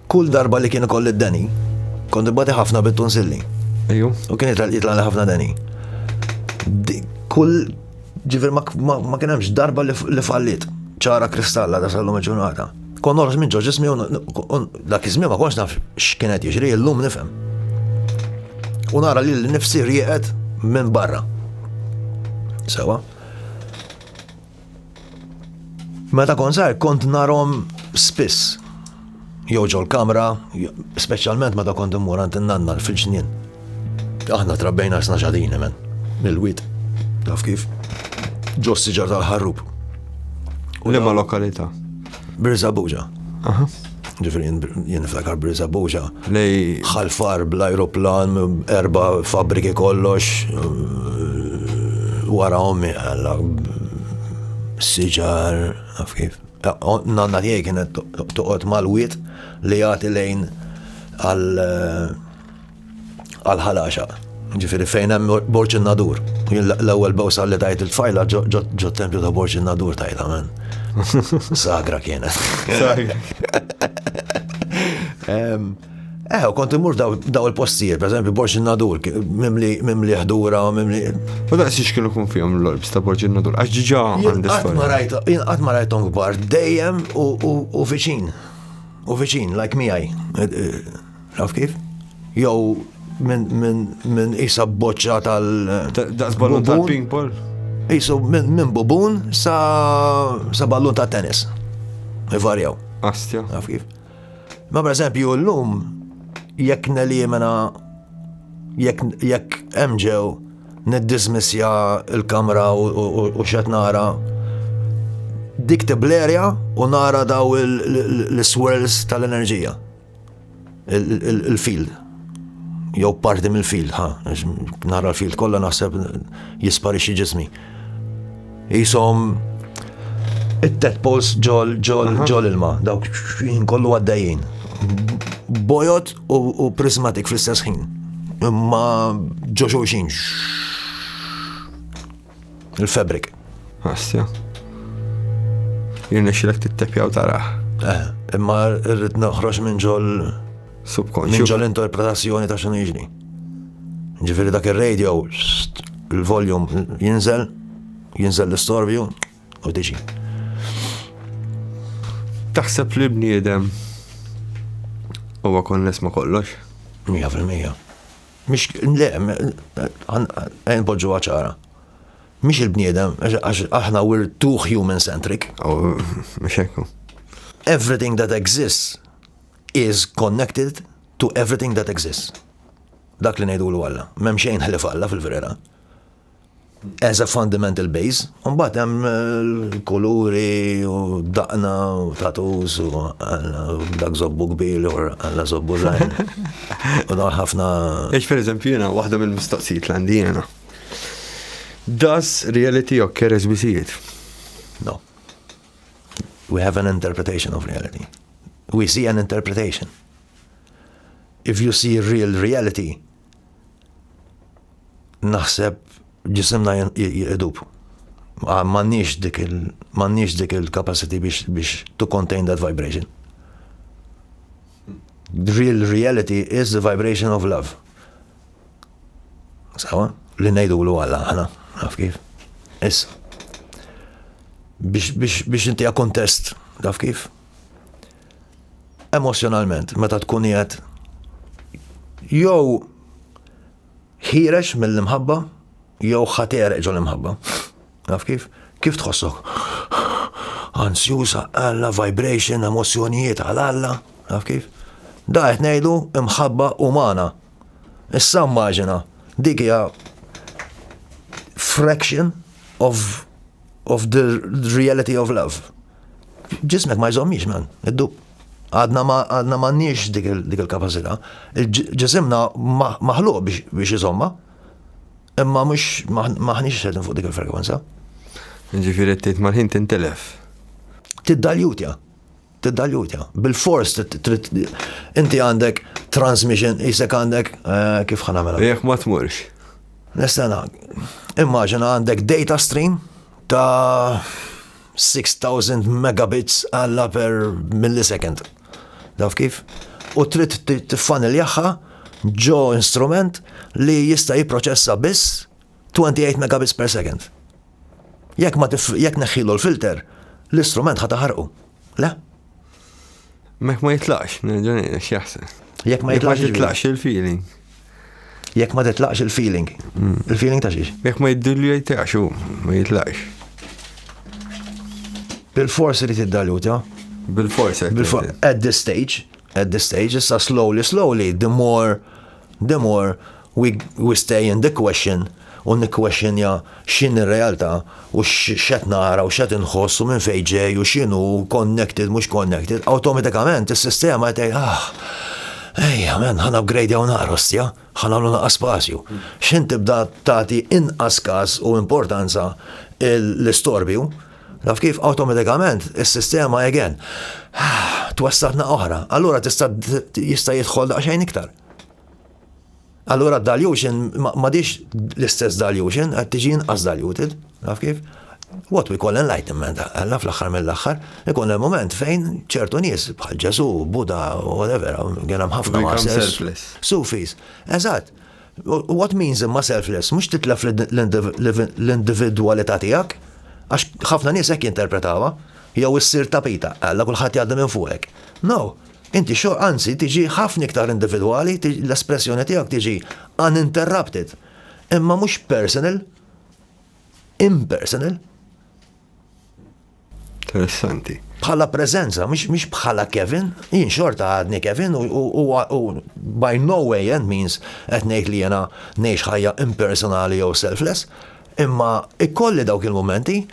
Kull darba li kien ikolli d-deni, kont ibbati ħafna bit-tonsilli. Ejju. U kien jitlaqli ħafna deni. Kull ġifir ma kien hemmx darba li fallit ċara kristalla da sallum il-ġurnata. Kon norġ minn ġoġ ismi dak iżmi ma konx naf x'kienet jiġri illum nifhem. U nara li l-nifsi rieqet minn barra. Sewa. Meta kont żgħir kont narhom spiss. Jew ġol kamra, speċjalment meta kont immur għand nanna fil-ġnien. Aħna trabbejna sna xadini men, mill-wit, taf kif? Ġos siġar tal-ħarrub. U l lokalità? Birza Buġa. Ġifri jien niftakar Birza Buġa. Lej ħalfar bl-ajruplan, erba fabriki kollox, wara ommi għalla siġar, għaf kif. Nanna tiegħi kienet toqgħod mal-wiet li jagħti lejn għal għal ħalaxa. Ġifiri fejn hemm Borġ in-Nadur. L-ewwel bewsa li tajt il-tfajla ġo tempju ta' Borġ in-Nadur tajt amen. Sagra kienet. Eh, kont imur daw il-postijiet, per eżempju, Borġ in-Nadur, mimli ħdura, mimli. U da' s kienu kun fihom l-orbs ta' Borġ in-Nadur, għax ġiġa għandi. Għat ma rajtom gbar, dejjem u viċin. U viċin, like miħaj. Taf kif? Jew minn isa boċċa tal. Daqs ballun tal-ping pong. Isu minn bubun sa ballun ta' tennis. Ivarjaw. Astja. Taf kif? Ma per eżempju l-lum jekk nelimina jekk emġew niddismissja il-kamra u xet nara dik tiblerja u nara daw l-swirls tal-enerġija. il-field jew parti mill-field, ha, nara l-field kollha naħseb jisparixxi ġismi. Jisom it-tet pols ġol ġol ġol ilma, dawk jien kollu għaddejjin. Bojot u prismatik fl-istess ħin. Imma ġoxo xin. Il-fabrik. Għastja. Jirna xilek t-tepjaw taraħ. Eh, imma rrid noħroġ minn ġol. Subkonxju. Minn ġol interpretazzjoni ta' xinu jiġri. Ġifiri dak il-radio, il-voljum jinżel, jinżel l-istorbju u diġi. Taħseb li bniedem huwa konness ma kollox? 100%. Mhix, le, npoġġuha ċara. Mhix il-bniedem, għax aħna we're too human-centric. Oh, mhux hekk. Everything that exists is connected to everything that exists. Dak li ngħidulu Alla. M'hemm xejn ħlief Alla fil-verità. as a fundamental base, un bat hemm l-kuluri u daqna u tatus u dak zobbu kbir u għalla zobbu zaħin. U dawn ħafna. Eċ per eżempju jena, waħda mill-mistoqsijiet l-għandi jena. Does reality occur as we see it? No. We have an interpretation of reality. We see an interpretation. If you see real reality, naħseb ġisimna jidub. Mannix dik il mannix dik il-capacity biex biex to contain that vibration. The real reality is the vibration of love. Sawa? Li nejdu l għalla ħana, naf kif. Is. Biex biex biex inti kontest, naf kif. emozjonalment meta tkun qiegħed jew ħirex mill-imħabba jew ħater ġol imħabba. Naf kif? Kif tħossok? Ansjusa, alla, vibration, emozjonijiet għal alla, naf kif? Da qed ngħidu imħabba umana. Issa immaġina, dik hija fraction of, of the reality of love. Ġismek ma jżommix man, id-dub. Għadna ma għadna m'għandniex dik il-kapaċità. Ġisimna maħluq biex iżomma, imma mhux maħniex xedin fuq dik il-frekwenza. Ġifieri tgħid mal-ħin tintelef. Tiddaljutja. Tiddaljutja. Bil-fors inti għandek transmission, jisek għandek eh, kif ħanamela. Jek ma tmurx. Nistana, immaġina għandek data stream ta' 6000 megabits għalla per millisecond. Daf kif? U trid tiffaniljaħħa ġo instrument li jista' jipproċessa biss 28 megabits per second. Jekk ma jekk neħħilu l-filter, l-istrument ħa taħarqu. Le? Mek ma jitlaqx, nerġa' ngħidlek x'jaħseb. Jekk ma jitlaqx. Jekk ma jitlaqx il-feeling. Jekk ma titlaqx il-feeling. Hmm. Il-feeling ta' xiex? Jekk ma jiddilju jitlaqx u ma jitlaqx. Bil-forsi li tiddaluta. Bil-forsi. Bil-forsi. At this stage, at this stage, issa slowly, slowly, the more, the more We stay in the question u nikkwexxinja x'inhi r-realtà u x'qed nara u x'qed inħoss u minn fejn ġej u x'inhu connected mhux connected, awtomatikament is-sistema qed tgħid ah, ejja men ħa nupgradejaw naqra ostja, ħa nagħmlu naqra spazju. X'in tibda tagħti inqas każ u importanza l-istorbju, naf kif awtomatikament is-sistema again ah, twessatna oħra, allura tista' jista' jidħol daqsxejn iktar. Allura dilution m'għadix l-istess dilution, qed tiġi inqas diluted, naf kif? What we call enlightenment, għalla fl-axħar mill-axħar, ikun il-moment fejn ċertu nies bħal Ġesu, Buda, whatever, għena mħafna għasel. Sufis, eżat. What means imma selfless? Mux titlef l-individualita tijak, għax ħafna nies ek jinterpretawa, jew issir tapita, għalla kullħat jgħadda minn fuqek. No, Inti xo, anzi, tiġi ħafna iktar individwali, l-espressjoni tiegħek tiġi uninterrupted, imma mhux personal, impersonal. Interessanti. Bħala preżenza, mhux bħala Kevin, jien xorta għadni Kevin u by no way and means qed ngħid li jena ngħix ħajja impersonali jew selfless, imma ikolli dawk il-momenti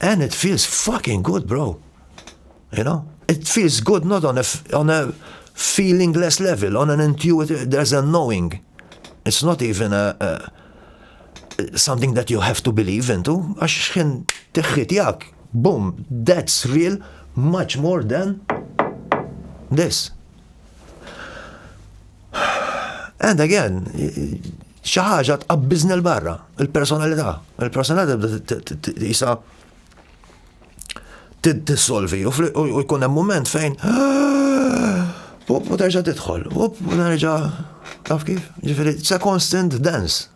and it feels fucking good, bro. You know? It feels good not on a on a feelingless level, on an intuitive, there's a knowing. It's not even a, a something that you have to believe into, għax xħin teħħit jak, boom, that's real, much more than this. And again, xaħġa tqabbiżni l-barra, il-personalità. Il-personalità jisa tissolvi u jkun hemm mument fejn Up, u terġa tidħol. Up, u terġa taf kif? Ġifiri, it's a constant dance.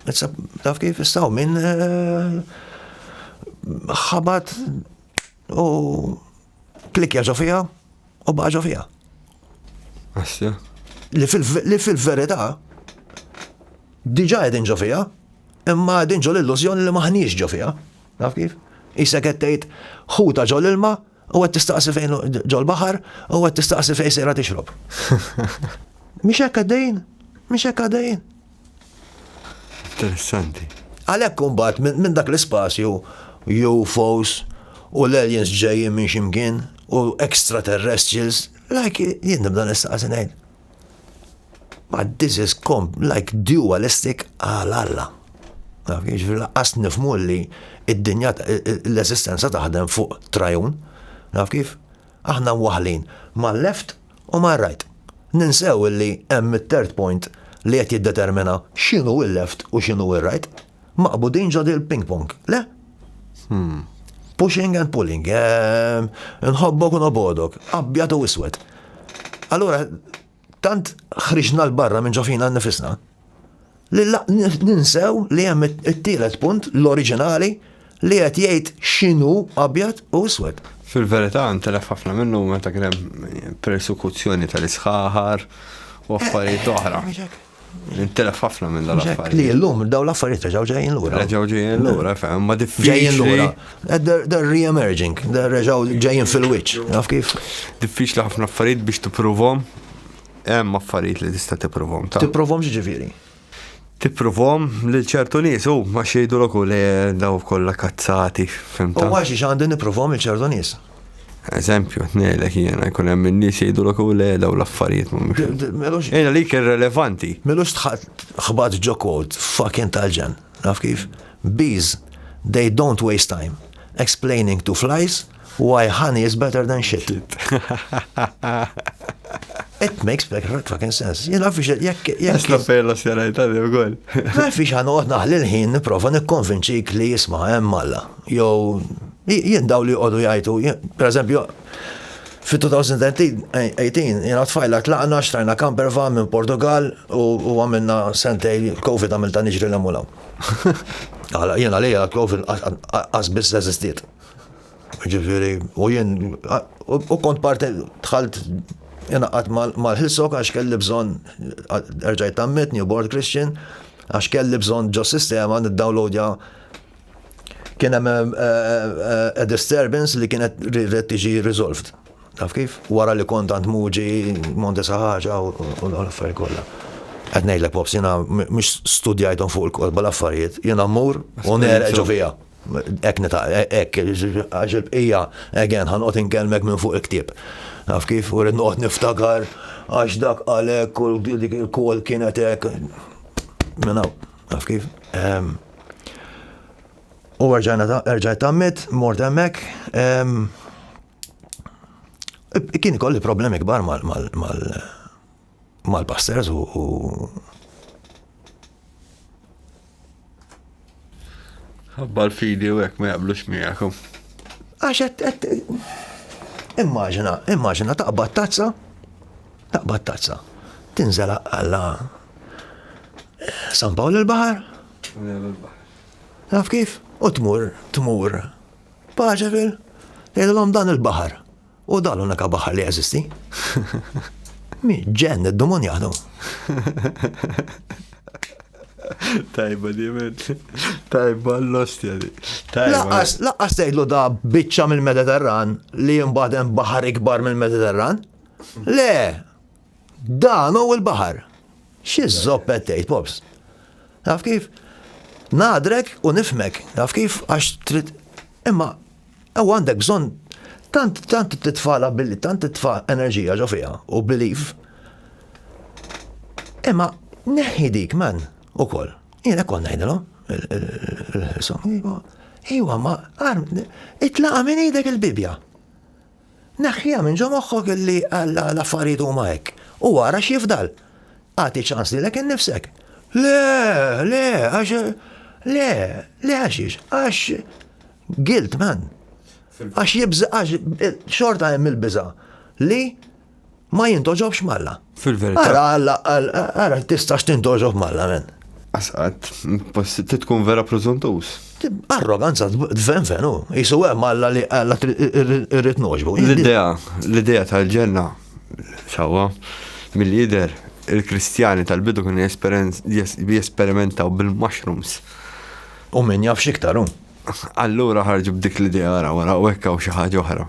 It's a, taf kif istaw minn eh, ħabat u Klikkja ġo fiha u baqa' ġo fiha. Asja. Li fil-verità diġà qegħdin ġo fiha, imma qegħdin ġo l-illużjoni li maħniex ġo fiha. Naf kif? Isek qed tgħid ħuta ġo l-ilma u qed tistaqsi fejn ġo l-baħar u qed tistaqsi fejn sejra tixrob. Mhix hekk għaddejn? Mhix hekk għaddejn? Interessanti. Għalhekk imbagħad minn dak l-ispazju UFOs u l-aliens ġejjin minn ximkien u extraterrestrials, like jien nibda nistaqsi ngħid. But this is com like dualistic għal Alla. Jiġri laqqas nifmu li id-dinja l-eżistenza taħdem fuq trajun. Naf kif? Aħna waħlin ma' left U ma rajt. Ninsew illi hemm it-third point li qed jiddetermina x'inhu il-left u x'inhu ir-right? Maqbudin ġo dil ping pong, le? Hm. Pushing and pulling, ehm, nħobbok u nobgħodok, abjad u iswed. Allura, tant ħriġna 'l barra minn ġo fina nnifisna. li ninsew li hemm it-tielet punt l-oriġinali li qed jgħid x'inhu abjad u iswed. Fil-verità ntelef ħafna minnu meta kien hemm persekuzzjoni tal-isħaħar u affarijiet oħra. Intilef ħafna minn dan l-affarijiet. Li l-lum daw l-affarijiet reġaw ġejjin l-ura. Reġaw ġejjin l-ura, fem, ma diffiċli. Ġejjin l-ura. Eh, they're re-emerging, they're reġaw ġejjin fil-wiċ, naf kif. Diffiċli ħafna affarijiet biex t-provom, Hemm affarijiet li tista' tipprovhom ta'. Tipprovhom x'ġifieri? Tipprovhom lil ċertu nies u ma xejdu l li daw kollha kazzati. U għax xi għandi nipprovhom lil ċertu nies. Eżempju, ngħidlek jiena jkun hemm in-nies jgħidu l li daw l-affarijiet mhumiex. Ejna li kien relevanti. Melux tħadd ħbat ġo kwot fucking tal-ġen. Naf kif. Bees, they don't waste time explaining to flies why honey is better than shit. It makes perfect fucking sense. Jena fiex jekk jekk. Għasna fejla s-sena jtali u għol. Ma fiex għan uqot naħli l-ħin niprofa nikkonvinċik li jisma' hemm Alla. Jow, jien daw li għodu jajtu, per eżempju, Fit-2018, jiena u t-tfajla tlaqna, xtrajna camper van minn Portugall u għamilna sentejn Covid għamiltha niġri 'l hemm u 'l hawn. Jien għalija Covid qas biss eżistiet. Jiġifieri u jien u kont parti dħalt ingħaqadt mal-Hillsong għax kelli bżonn erġajt tgħammidt, newborn Christian, għax kelli bżonn ġos-sistema niddownloadja kien hemm eh, eh, eh, disturbance li kienet red tiġi resolved. Taf kif? Wara li kont għand muġi Monte Saħħaġa u l-affarijiet kollha. Qed ngħidlek pops jiena mhux studjajthom fuq il-kolba l-affarijiet, jiena mmur u nerġu fiha. Ek nita, ek, għax il-bqija, again, ħanqot inkellmek minn fuq il-ktib. Taf kif, u rrid noqgħod niftakar għax dak għalek u dik il-kol kienet hekk. Minn hawn, taf kif? Ehm, U erġajt tammit, mort emmek, kien kolli problemi kbar mal-pastors u Għabba l-fidi u għek ma jaqblux miegħekom. Għax għet, immaġina, immaġina taqbad tazza, taqbad tazza, tinżela għalla San Pawl il-Baħar? Naf kif? U tmur, tmur. Paċa fil, jgħidilhom dan il-baħar. U dan l-unika baħar li jeżisti. Mi ġen id-dumon jaħdu. Tajba di men. Tajba l-ostja di. Laqqas, laqqas tgħidlu da biċċa mill-Mediterran li jimbaden baħar ikbar mill-Mediterran? Le, Dan hu l-baħar. Xi żopp qed tgħid, Pops? Taf kif? Ngħadrek u nifmek, taf kif? Għax trid. Imma ew għandek bżonn tant tant titfala billi tant titfa' enerġija ġo fiha u belief. Imma neħħi dik man ukoll. Jiena kont ngħidilhom il-ħisom. Iwa, ma, itlaqa minn idek il-Bibja. Neħħiha minn ġo moħħok li l-affarijiet huma hekk u ara x'jifdal. Agħti ċans lilek innifsek. Le, le, għax le, le għaxiex, għax guilt man. Għax jibża għax xorta hemm il-biża li ma jindoġobx malla. Fil-verità. Ara, alla, ara, tistax tindoġob malla, men. Asqat, ti tkun vera prozuntus. Arroganza, dven venu, jisu għem alla li alla rrit noġbu. L-idea, l-idea tal-ġenna, sawa, mill-lider, il-kristjani tal-bidu kien jesperimentaw bil-mushrooms. U min jaf xiktaru. Allura ħarġu b'dik l-idea għara, għara, u ekkaw xaħġa oħra.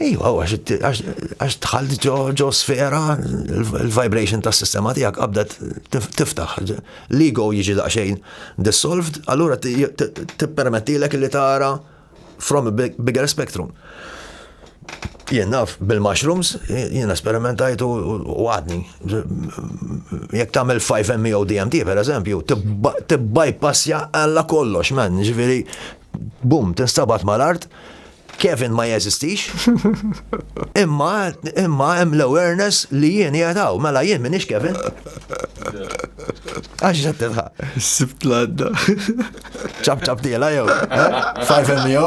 Iva, għax tħalli ġo sfera l-vibration tas sistema tijak għabda tiftaħ. L-ego jiġi daqxejn dissolved, allura t-permettilek li tara from a bigger spectrum. Jien naf bil-mushrooms, jien esperimentajtu u għadni. Jek tamel 5 MEO DMT, per eżempju, t-bypassja għalla kollox, man, ġviri, bum, t-instabat mal-art, Kevin ma jeżistix. Imma imma hemm l-awareness li jien qiegħed hawn, mela jien minix Kevin. Għax qed tilħaq. Sibt l-għadda. Ċab ċab diela jew. Eh? Five MO.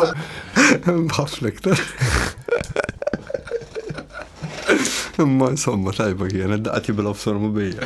Bħaflek ta. Imma insomma tajba kienet daqqa tibla f'sormu bija.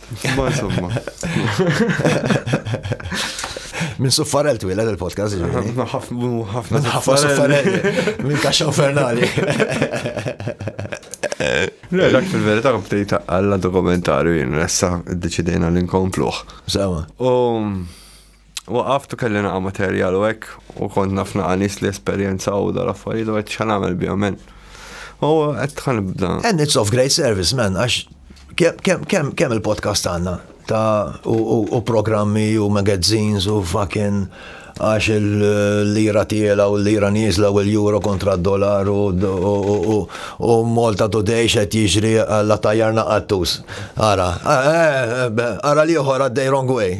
Ma insomma. Minn suffarel twila il-podcast. Ħafna suffarel. Minn kaxxa infernali. Le, dak fil-verita bdejt għalla dokumentarju jien, nessa id-deċidejna l-inkompluħ. Sawa. U Waqaft u kelli naqa' materjal u hekk u kont naf naqa' nies li esperjenzaw dar affarijiet u qed x'ħan nagħmel bihom men. U qed ħan nibda. And it's of great service man għax kemm il-podcast għandna ta' u programmi u magazines u fucking għax il-lira tiela u l-lira nizla u l-euro kontra d-dollar u U Malta Today x'qed jiġri la tajjarna qattus. Ara, ara l-ieħor għaddej wrong way.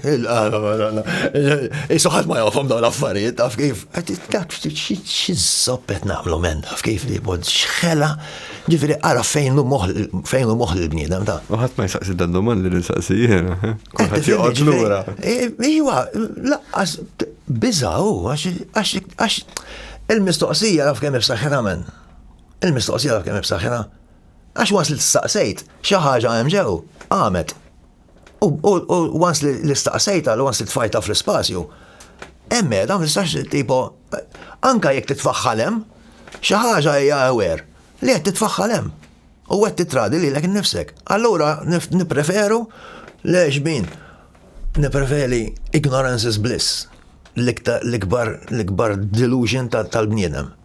Isu ħadd ma jafhom dawn l-affarijiet, taf kif? Dak xi żopp qed nagħmlu men, taf kif li bod xħela, ġifieri ara fejn hu moħħ fejn hu moħħ il-bniedem ta'. U ħadd ma jsaqsi dan domandi li nsaqsi jiena. Kulħadd joqgħod lura. Iwa, laqqas biża' hu għax il-mistoqsija taf kemm hi b'saħħitha men. Il-mistoqsija ta' kemm ibsaħħina, għax wans li staqsejt xi ħaġa hemm ġew, qamet. U wans li staqsejta, li wans li tfajta fl-ispazju, hemm qiegħda ma tistax tipo anka jekk titfaħħal hemm, xi ħaġa hija aware li qed titfaħħal hemm. U qed titradi lilek innifsek. Allura nippreferu le xbin. Nippreferi ignorance is bliss l-ikbar delusion tal-bniedem.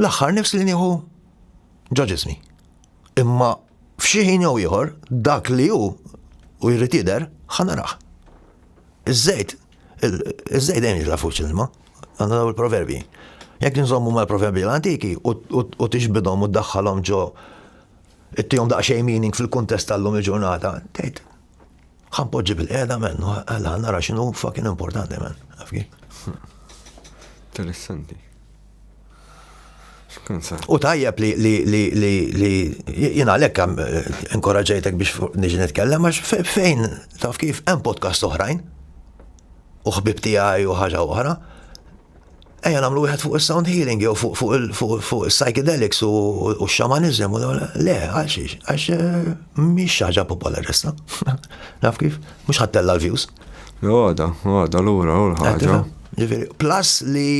L-aħħar nifs li nieħu ġo ġismi. Imma f'xi ħin jew ieħor dak li hu u jrid jidher ħanaraħ. Iż-żejt, iż-żejt dejjem jitla' fuq l-ilma, għandna daw il-proverbi. Jekk nżommu mal-proverbi l-antiki u tixbidhom u ddaħħalhom ġo ittihom daqsxejn meaning fil-kuntest tal-lum il-ġurnata, tgħid Ħan poġġi bil-qeda men, għalla nara xinu fucking importanti men, għafki. Interessanti. U tajjeb li li li li li jina lek eh, inkoraġejtek biex niġi nitkellem għax fejn taf kif hemm podcast oħrajn u ħbib tiegħi u ħaġa oħra Ejja nagħmlu wieħed fuq is-sound healing jew fuq is-psychedelics u x-xamaniżem. Le, għal xiex, għax eh, mhix ħaġa popolarista. Naf kif, mhux ħattella l-views. Għada, għada lura u l-ħaġa. Plus li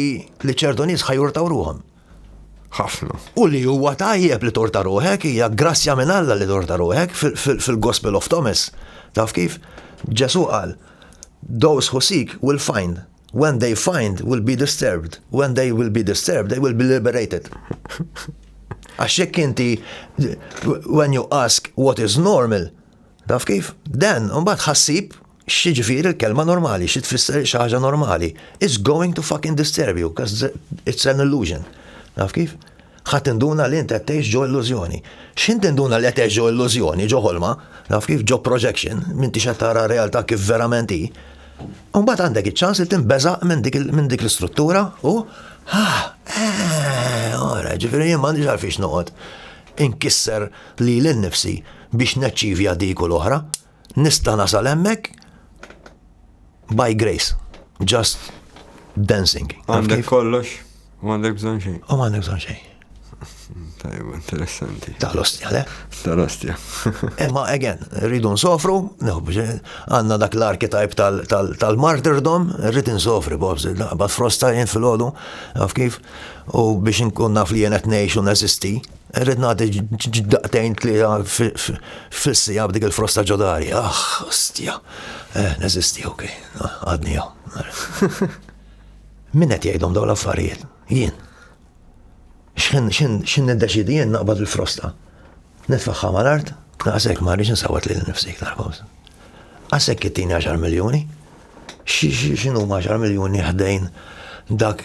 li ċertu nies ħajurtaw ruhom. Ħafna. U li huwa tajjeb li torta ruħek, hija grazzja minn Alla li torta ruħek fil-Gospel of Thomas. Taf kif? Ġesu qal, those who seek will find. When they find will be disturbed. When they will be disturbed, they will be liberated. Għax jekk inti, when you ask what is normal, taf kif? Dan, mbagħad ħassib xieġifir il-kelma normali, xie tfisser xaħġa normali. It's going to fucking disturb you, because it's an illusion. Taf kif? Ħa tinduna li int qed tgħix ġo illużjoni. X'ħin tinduna li qed tgħix ġo illużjoni, ġo ħolma, naf kif, ġo projection, m'intix qed tara r-realtà kif verament hi. U mbagħad għandek iċ-ċans li tinbeżaq minn dik l-istruttura u ah, eh, ora, ġifieri jien m'għandix għalfiex noqgħod inkisser lili nnifsi biex neċċivja dik u l-oħra. Nista' nasal hemmhekk by grace, just dancing. Għandek kollox, u għandek bżon xejn. U għandek bżon xejn. Tajb, interessanti. Tal-ostja, le? Tal-ostja. Imma, eh, again, rridu nsofru, għanna dak l-arkitajp tal-martyrdom, rrid nsofri, bobs, bat frosta jien fil-ħodu, għaf kif, u biex nkun naf li jenet nejx u nazisti, Rrid nagħti daqtejn tlieta fil-sija b'dik il-frosta ġodari. Ah, ostja. Eh, neżisti, ok. Ah, għadni jew. Min qed jgħidhom dawn l-affarijiet? Jien. X'ħin x'in niddeċidi jien naqbad il-frosta. Nitfaħħa mal-art, naqsek ma rridx nsawwat lil nifsi iktar kos. Għasek kittini 10 miljoni, xinu ma 10 miljoni ħdejn dak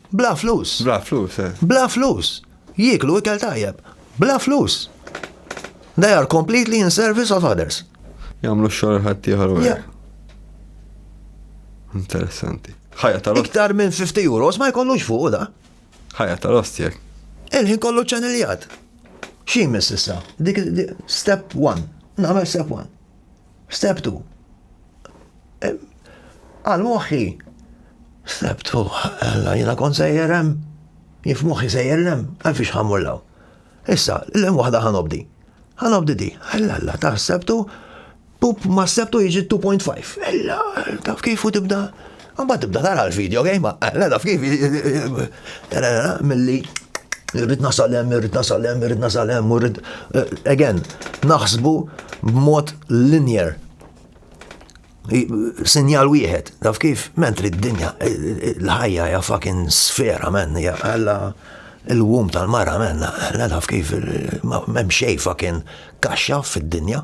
Bla flus. Bla flus, eh. Bla flus. Jieklu ikel tajjeb. Bla flus. They are completely in service of others. Jamlu xogħol ħaddieħor u Interessanti. Ħajja tal Iktar minn 50 euros ma jkollux fuq da. Ħajja tal-ostjek. Il-ħin kollu ċaniljat. Xi miss issa? Dik step 1. Nagħmel step 1. Steptu. Għal moħħi. Steptu, għalla jina kon sejjer hemm. Jif moħħi sejjer lem, għalfix ħammur law. Issa, l-lem wahda ħanobdi. Ħanobdi di, għalla għalla, ta' steptu, pup ma steptu jiġi 2.5. Ella, taf kif u tibda Mbagħad tibda tara l-video game, eh, le taf kif, milli irrid nasal hemm, irrid nasal hemm, irrid nasal hemm, irrid eh, again, naħsbu b'mod linear. Sinjal wieħed, taf kif, mentri d-dinja, eh, eh, l-ħajja hija fucking sfera men, hija għalla il-wum tal-mara men, la taf kif, m'hemm xejn fucking kaxxa fid-dinja.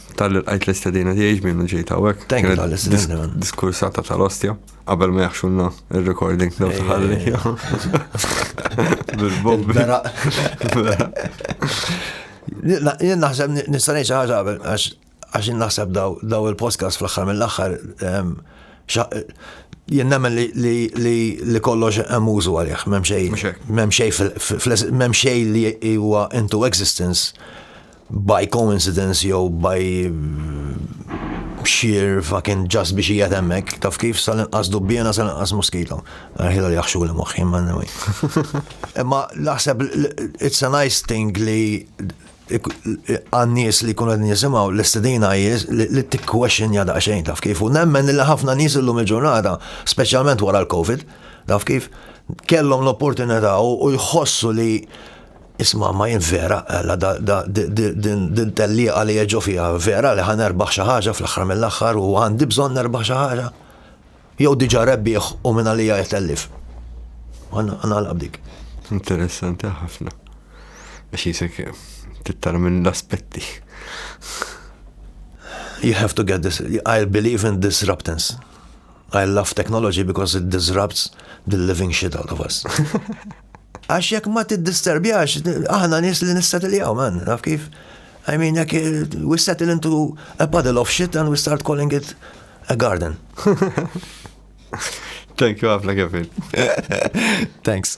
Tal li l-qajt l-istedina tiegħi ġmien li ġejt hawnhekk. Thank you tal-istedina. Diskursata tal-ostja, qabel ma jaħxunna il-recording daw taħalli. Bil-bombi. Jien naħseb nista' ngħid xi ħaġa qabel għax jien naħseb daw il-podcast fl-aħħar mill-aħħar ehm, jien nemmen li kollox hemm użu għalih, m'hemm xejn fl-hemm xejn li huwa into existence by coincidence jew by sheer fucking just biex hija temmek, taf kif sal-inqas dubbjena sal-inqas moskito. Għarħila li jaħxu li moħħi ma nawi. Imma naħseb it's a nice thing li għannis li kunu għedin jisimaw l-istedina jiz li t-question jada xejn taf kif. U nemmen li ħafna nis l-lum il-ġurnata, specialment wara l-Covid, taf kif, kellhom l-opportunità u jħossu li Isma' Main vera, ella din tellieqa li jeġgħu fiha, vera li ħa nerbaħ xi ħaġa fl-aħħar mill-aħħar u għandi bżonn nerbaħ xi ħaġa? Jew diġà rebbieħ u mingħalija qed tellif? U nagħlaq b'dik. Interessanti ħafna. Għax jisek tittar minn l-aspetti. You have to get this. I believe in disruptance. I love technology because it disrupts the living shit out of us. Għax jekk ma tiddisterbjax, aħna nies li nissetiljaw, man, naf kif. I mean, jekk we settle into a puddle of shit and we start calling it a garden. Thank you, Afla Kevin. Thanks.